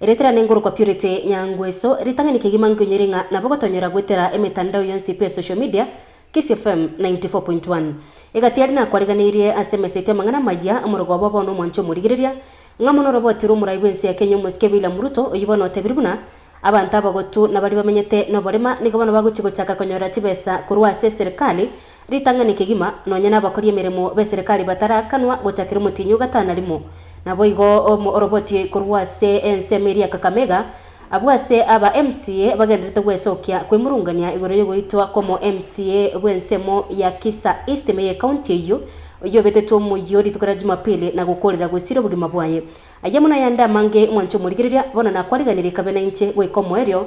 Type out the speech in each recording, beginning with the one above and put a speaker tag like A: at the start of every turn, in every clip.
A: Eretera nenkorokwa Purity Nyangweso, ritang'ani kegima nkoinyore ng'a nabo gotonyora goetera emetandao yonsi pe social media, Kisii FM 94.1. Egati aria nakwareganeirie ase emesa yaito y'amang'ana amaya, omorogo obo bono omwanche omorigereria, ng'a mono orabwatirwe omorai bw'ense ya Kenya omosike William Ruto, oyio bono otebirie buna, Abanto abagotu nabaria bamenyete noborema nigo bono bagochia gochaka konyora chibesa korwa ase eserikali, Ritang'ani kegima, nonya nabakori emeremo b'eserekari batarakanwa gochakera omotienyi o gatano rimo. Naboigo orobotie korwa ase ensemo eria ya Kakamega, abwo ase aba MCA bagenderete gwesokia kwemurungania igoro yogoitwa kw'omo MCA bw'ensemo ya Kisa East me y'ekaunti eyio, oyio obetetwe omoyio rituko ria Jumapili na gokoorera gosiira obogima bwaye. Ayio amo nayande amange, mwanche omorigereria, bono nakwariganirie kabe nainche goika omoerio,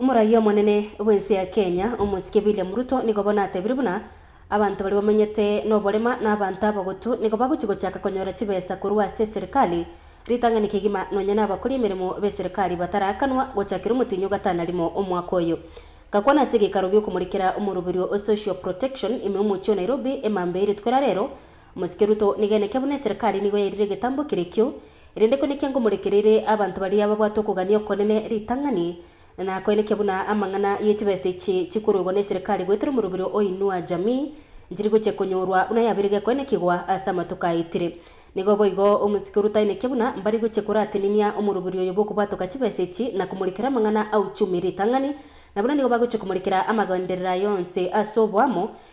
A: Omoraia omonene bw'ense ya Kenya, Omosike William Ruto nigo bono atebire buna abanto baria bamenyete noborema na abanto abagotu nigo bagochia gochaka konyora chibesa korwa ase eserikali, ritang'ani kegima nonya na abakori emeremo b'eserikali bataraakanwa gochakera omotienyi o gatano rimo omwaka oyo. Gakwana ase egeikaro gi'okomorekera omoroberio o Social Protection ime omochie o Nairobi emambia eiretwe rarero, Mosike Ruto, nigeneke buna eserekari nigo yairire egetambo kere ekio, erende koina ekianga omorekereire abanto baria babwate okogania okonene ritang'ani, na koina ekia buna amang'ana ye chibesa echi chikoroigwa neserekari goetera omorobio o Inua Jamii njiri gochia konyorwa buna yabeire gekoina kigwa ase amatuko aetire. Nigo boigo omosike Ruto aineke buna mbari gochia korateninia omorobio oyo bwokobwatoka chibesa echi na komorekera amang'ana a uchumi ritang'ani, na buna nigo bagochia komorekera amagenderera aye onsi ase oboamo,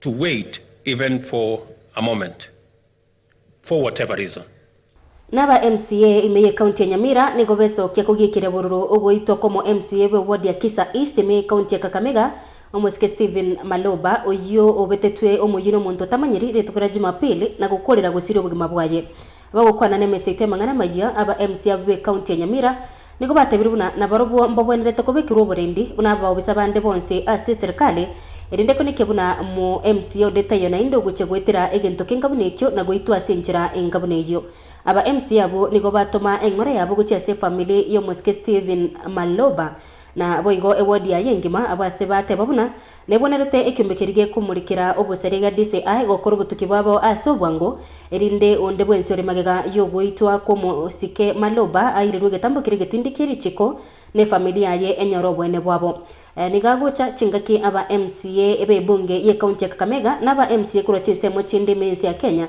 B: to wait even for a moment for whatever reason. Naba
A: MCA ime ye county ya Nyamira nigo besokia kogiekera bororo ogoitwa komo MCA bwe ward ya Kisa East ime ye county ya Kakamega, omosike Stephen Maloba, oyio obetetwe omoyie nomonto otamanyiri rituko ria Jumapili na gokorera gosiria obogima bwaye. Abagokwana nemeseito y'amang'ana amayia aba MC abo be county ya Nyamira nigo batebirie buna nabarobwo mbabwenerete kobekerwa oborendi buna abaobisa bande bonsi ase eserikali, erinde koneke buna mo MC onde taiyo naende ogochia goetera egento kionka buna ekio na goitwa ase enchera enka buna eyio. Aba MC abwo nigo batoma eng'ora yabo gochia ase efamili y'omosike Stephen Maloba, Na boigo ewodi yaye engima abwo ase bateba buna nebonerete ekiombe keria gekomorikera obosaria iga DCI gokora obotuki bwabo ase obwango, erinde onde bwensi ore magega y'ogoitwa kw'omosike Maloba airirwe egetambo keria egetindi kie richiko, na efamiri yaye enyore oboene bwabo. Nigo agocha chingaki aba MCA b'ebunge y'ecounty ya Kakamega, na aba MCA korwa chinsemo chinde ime y'ense ya Kenya,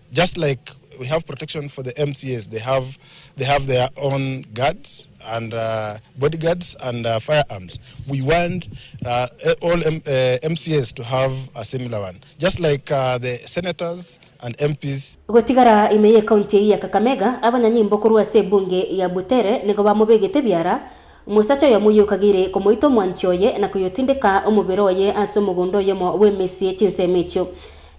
C: Just like we have protection for the MCAs, they have they have their own guards and uh, bodyguards and uh, firearms. We want uh, all M- uh, MCAs to have a similar one, just like uh, the senators and MPs Gotigara ime ye
A: county eye ya Kakamega, abanyanyimbo korwa ase ebunge ya Butere nigo bamobegete biara omosacha oyomo oyio okageire komoita omwanchi oye na koyotindeka omobere oye ase omogondo oyomo bw'emesie chinsemo echio.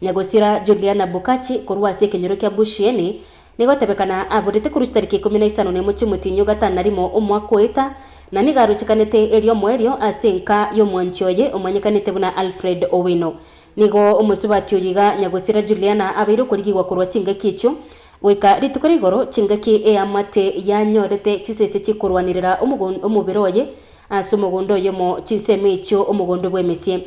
A: Nyagosira Juliana Bukachi korwa ase ekenyoro kia Bushieni, nigotebekana aborete korwa ase tariki ikomi na isano na emo chimotinyio gatano na rimo omwaka oeta, na nigo arochekanete eriomo erio ase enka y'omwanchi oye omanyekanete buna Alfred Owino. Nigo omosubati oyo iga Nyagosira Juliana abeire okorigigwa korwa chingaki echio goika rituko ria igoro chingaki eamate yanyorete chisese chikorwanirera omobere oye ase omogondo oyomo chinsemo echio omogondo bw'emesie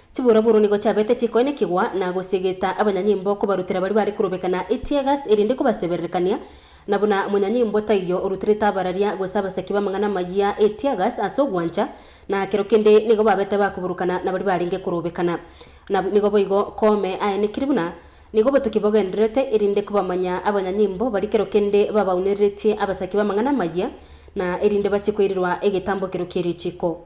A: Chiburoburu nigo chiabete chikoe nekegwa na gosiegeta abanyanyimbo kobarutera baria bare korobeka na eteargas erinde kobasebererekania, na buna omonyanyimbo taiyo oruterete abararia gose abasaki b'amang'ana amayia eteargas ase ogwancha, na kero kende nigo babete bakoburukana nabaria barenge korobekana nabo. Nigo boigo koome aenekiri buna nigo obotoki bogendererete erinde kobamanya abanyanyimbo baria kero kende babaunereretie abasaki b'amang'ana amayia na erinde bachie koirirwa egetambo kero ki'erichiko.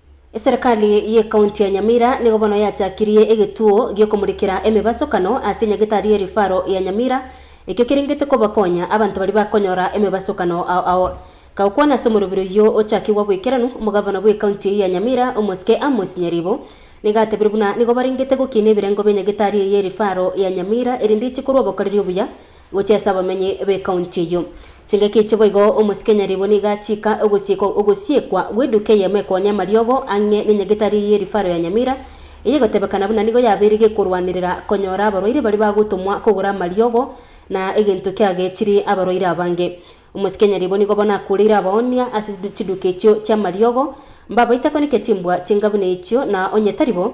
D: Eserekari
A: y'Ekaunti ya Nyamira nigo bono yachakirie egetuo gi'okomurikera emebasokano ase enyagetari y'erifaro ya Nyamira, ekio kerengete kobakonya abanto baria bakonyora emebasokano ao ao. Kagokwana ase omoroberi oyio ochakigwa goikeranu, omogavana bw'Ekaunti eyio ya Nyamira, Omosike Amos Nyaribo, nigo atebire buna nigo barengete gokiina ebirengo bi'enyagetari eye y'erifaro ya Nyamira erinde eche korwa obokoreri obuya Gochia ase abamenyi b'ekaunti eyio. Chingaki echi boigo omosike nyaribwe nigo achiika ogosiekwa ogosiekwa gw'eduka eyemo ekonya amariogo ang'e nenyagetari ye rifaro ya Nyamira, eye egotebekana buna nigo yabeire gekorwanerera konyora abarwaire baria bagotomwa kogora amariogo na egento kiagechiri abarwaire abange. Omosike nyaribwe nigo bono akureire abaonia ase chiduka echio chi'amariogo, mbabaisa konekia chimbwa chinga buna echio na onye tari bo,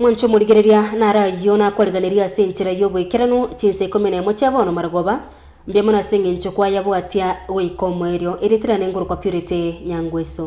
A: Mwanche omorigereria nare ayio nakwariganirie ase enchera y'oboikeranu chinsa ikomi nemo chia bono marogoba, mbuya mono ase engencho kwayabwatia goika omoerio. Erieta riane ngorokwa Purity Nyangweso.